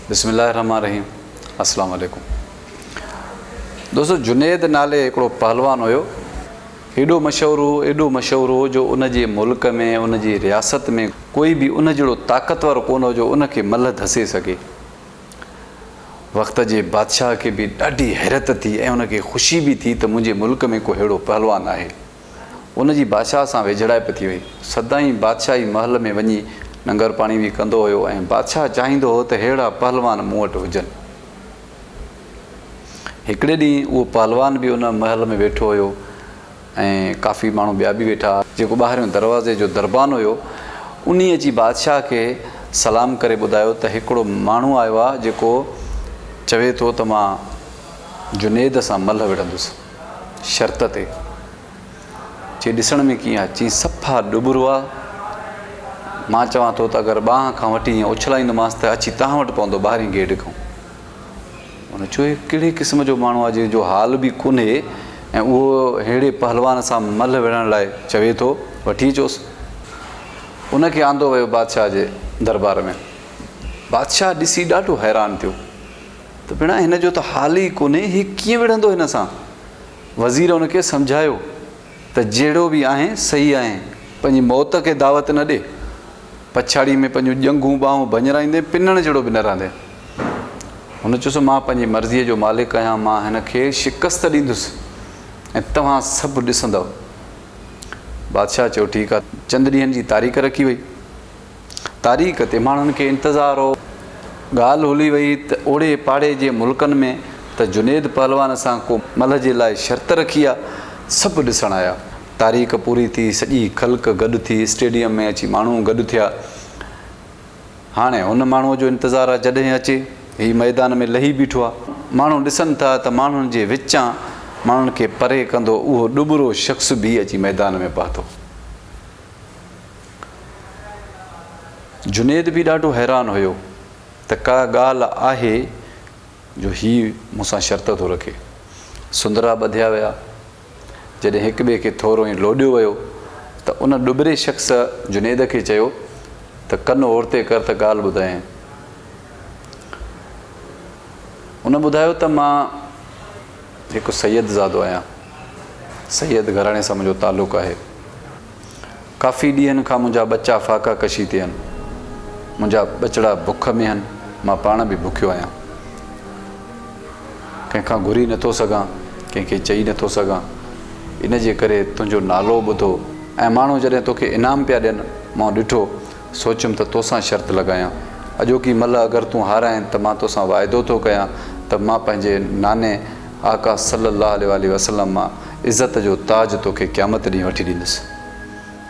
بسم الله الرحمٰن الرحيم اسلام عليڪم دوستو جنيد نالي هڪڙو پهلوان هيو ايڏو مشهور هو ايڏو مشهور هو جو ان جي ملڪ ۾ ان جي رياست ۾ ڪوئي به ان جهڙو طاقتور ڪونه هو جو ان کي ملهه ڌسي سگهي وقت جي بادشاهه کي به ڏاڍي حيرت ٿي ۽ ان کي خوشي به ٿي ته منهنجي ملڪ ۾ ڪو ههڙو پهلوان آهي. ان جي بادشاهه سان ويجهڙائپ ٿي وئي. سدائين بادشاهي محل ۾ وڃي ننگر پاڻي به ڪندو هيو ۽ بادشاهه چاهيندو هو ته ههڙا پهلوان مون وٽ هجن. هڪڙي ڏينهن اهو پهلوان به ان محل ۾ ويٺو هيو ۽ ڪافي ماڻهو ٻيا به ويٺا ها. جيڪو ٻاهريون دروازي جو دربان هيو، انهيء اچي بادشاهه کي سلام ڪري ٻڌايو ته هڪڙو ماڻهو آيو آهي، جيڪو چوي ٿو ته مان جنيد سان ملهه وڙهندس. شرط تي چي ڏسڻ ۾ ڪيئن آ؟ چيس صفا ڏٻرو آ. مان چوان ٿو ته اگر ٻانهن کان وٺي ائين اڇلائيندومانس ته اچي توهان وٽ پوندو ٻاهرين گيٽ کان. هن چيو هي ڪهڙي قسم جو ماڻهو آ جنهن جو حال به ڪونهي ۽ اهو ههڙي پهلوان سان ملهه وڙهڻ لاء چوي ٿو. وٺي اچوس. ان کي آندو ويو بادشاهه جي دربار ۾. بادشاهه ڏسي ڏاڍو حيران ٿيو. ته ڀيڻا هن جو ته حال ئي ڪونهي، هي ڪيئن وڙهندو هن سان؟ وزير هن کي سمجهايو ته جهڙو به آهين سهي آهين، پنهنجي موت کي دعوت نه ڏي، پڇاڙيء ۾ پنهنجون ڄنگهون ٻانهون ڀڃرائيندين، پنڻ جهڙو به نه رهندين. هن چيس، مان پنهنجي مرضيء جو مالڪ آهيان، مان هن کي شڪست ڏيندس ۽ توهان سڀ ڏسندؤ. بادشاهه چيو، ٺيڪ آهي. چند ڏينهن جي تاريخ رکي وئي. تاريخ تي ماڻهن کي انتظار هو. ڳالهه هلي وئي ته اوڙي پاڙي جي ملڪن ۾ ته جنيد پهلوان سان ڪو ملهه جي لاء شرط رکي ها. سڀ ڏسڻ آيا. تاريخ پوري ٿي، سڄي خلق گڏ ٿي، اسٽيڊيم ۾ اچي ماڻهو گڏ ٿيا. هاڻي هن ماڻهوء جو انتظار آ جڏهن اچي. هي ميدان ۾ لهي بيٺو آ. ماڻهو ڏسن ٿا ته ماڻهن جي وچان ماڻهن کي پري ڪندو اهو ڏٻرو شخص به اچي ميدان ۾ پهتو. جنيد به ڏاڍو حيران هيو ته ڪا ڳالهه آهي جو هي مون سان شرط ٿو رکي. سندرا ٻڌيا ويا. جڏهن هڪ ٻئي کي ٿورو ائين لوڏيو ويو ته ان ڏٻري شخص جنيد کي چيو ته ڪن اورتي ڪر ته ڳالهه ٻڌايانء. ان ٻڌايو ته مان هڪ سيد زادو آهيان. سيد گهراڻي سان منهنجو تعلق آهي. ڪافي ڏينهن کان منهنجا ٻچا ڦاڪا ڪشي تي آهن. منهنجا ٻچڙا بک ۾ آهن، مان پاڻ به بکيو آهيان. ڪنهن کان گهري نٿو سگهان، ڪنهن کي چئي نٿو سگهان. ان جي ڪري تنهنجو نالو ٻڌو ۽ ماڻهو جڏهن توکي انعام پيا ڏين، مون ڏٺو سوچيم ته توسان شرط لڳايان. اڄوڪي ملهه اگر تون هارائين ته مان توسان واعدو ٿو ڪيان ته مان پنهنجي ناني آقا صلّي اللّٰه عليه واٰله وسلّم مان عزت جو تاج توکي قيامت ڏينهن وٺي ڏيندس.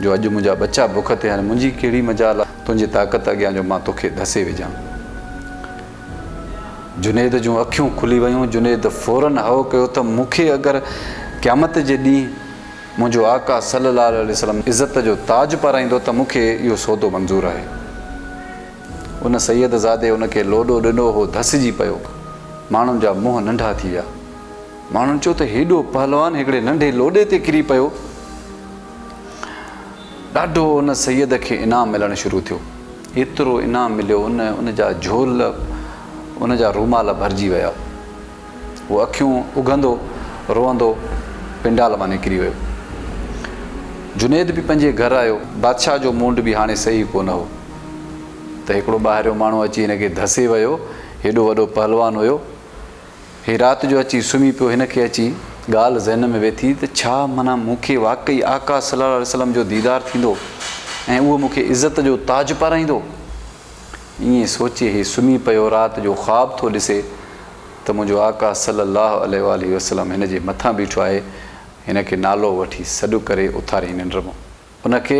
جو اڄ منهنجا ٻچا بک تي آهن منهنجي ڪهڙي مجال آهي تنهنجي طاقت اڳيان جو مان توکي ڌسي وجهان. جنيد جون اکيون کلي ويون. جنيد فوراً هئو ڪيو ته مونکي اگر قيامت جي ڏينهن. منهنجو آقا صلي الله عليه وسلم عزت جو تاج پارائيندو ته مون کي اهو سودو منظور آهي. ان سيد زادي ان کي لوڏو ڏنو هو ڌسجي پيو. ماڻهن جا منهن ننڍا ٿي ويا. ماڻهن چيو ته هيڏو پهلوان هڪڙي ننڍي لوڏي تي ڪري پيو. ڏاڍو ان سيد کي انعام ملڻ شروع ٿيو. ايترو انعام مليو ان ان جا جهول ان جا رومال ڀرجي ويا. هو اکيون اگهندو روئندو پنڊال مان نڪري ويو. جنيد به پنهنجي گهر آيو. بادشاهه جو موڊ به هاڻي صحيح ڪونه هو ته هڪڙو ٻاهريون ماڻهو اچي هن کي ڌسي ويو. هيڏو وڏو پهلوان هيو. هي رات جو اچي سمهي پيو. هن کي اچي ڳالهه ذهن ۾ ويٺي ته ڇا معنيٰ مون کي واقعي آقا صلي الله عليه وسلم جو ديدار ٿيندو ۽ اهو مون کي عزت جو تاج پارائيندو. ائين سوچي هي سمهي پيو رات جو خواب ٿو ڏسي ته منهنجو آقا صلي الله عليه واٰله وسلم هن جي مٿان بيٺو آهي هن کي نالو وٺي سڏ ڪري اٿاريائين ننڊ مان ان کي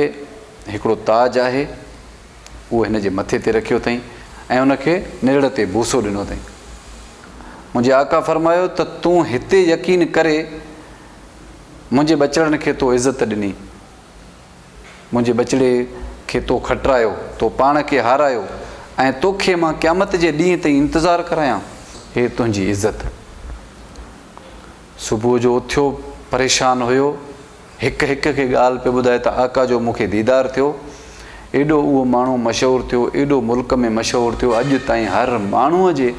هڪڙو تاج آهي اهو هن جي مٿي تي رکيو اٿئين ۽ ان کي نرڙ تي بوسو ڏنو اٿئين منهنجي آقا فرمايو ته تون هتي يقين ڪري منهنجي ٻچڙن کي تو عزت ڏني منهنجي ٻچڙي کي تو کٽرايو، تو پاڻ کي هارايو ۽ توکي مان قيامت جي ڏينهن تائين انتظار ڪرايان؟ هي تنهنجي عزت. صبح جو اٿيو پريشان هيو، هڪ هڪ کي ڳالهه پيو ٻڌائي ته آقا جو مون کي ديدار ٿيو، ايڏو اهو ماڻهو مشهور ٿيو، ايڏو ملڪ ۾ مشهور ٿيو، اڄ تائين هر ماڻهوء جي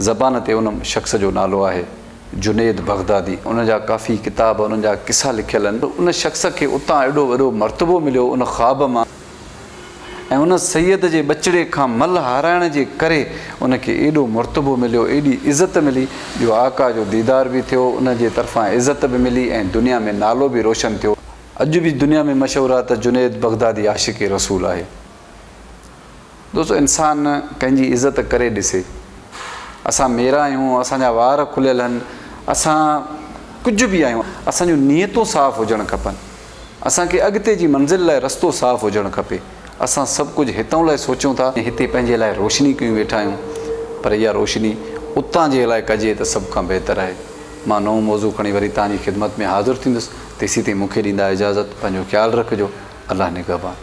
زبان تي ان شخص جو نالو آهي. جنيد بغدادي ان جا ڪافي ڪتاب انهن جا قصا لکيل آهن پر ان شخص کي اتان ايڏو وڏو مرتبو مليو ان خواب مان ۽ ان سيد جي ٻچڙي کان مل هارائڻ جي ڪري ان کي ايڏو مرتبو مليو ايڏي عزت ملي جو آقا جو ديدار به ٿيو ان جي طرفان عزت به ملي ۽ دنيا ۾ نالو به روشن ٿيو اڄ به دنيا ۾ مشهور آهي ته جنيد بغدادي عاشق رسول آهي. دوستو انسان ڪنهن جي عزت ڪري ڏسي اسان ميرا آهيون اسان جا وار کليل هن اسان ڪجهه به آهيون اسان جون نيتون صاف هجڻ کپن اسان کي اڳتي جي منزل لاء رستو صاف هجڻ کپي اسان سڀ ڪجهه هتئون لاء سوچيون ٿا هتي پنهنجي لاء روشني ڪيون ويٺا آهيون پر اها روشني اتان جي لاء ڪجي ته سڀ کان بهتر آهي مان نئون موضوع کڻي وري توهان جي خدمت ۾ حاضر ٿيندس تيسين تائين مون کي ڏيندا اجازت پنهنجو خيال رکجو الله نگهبان.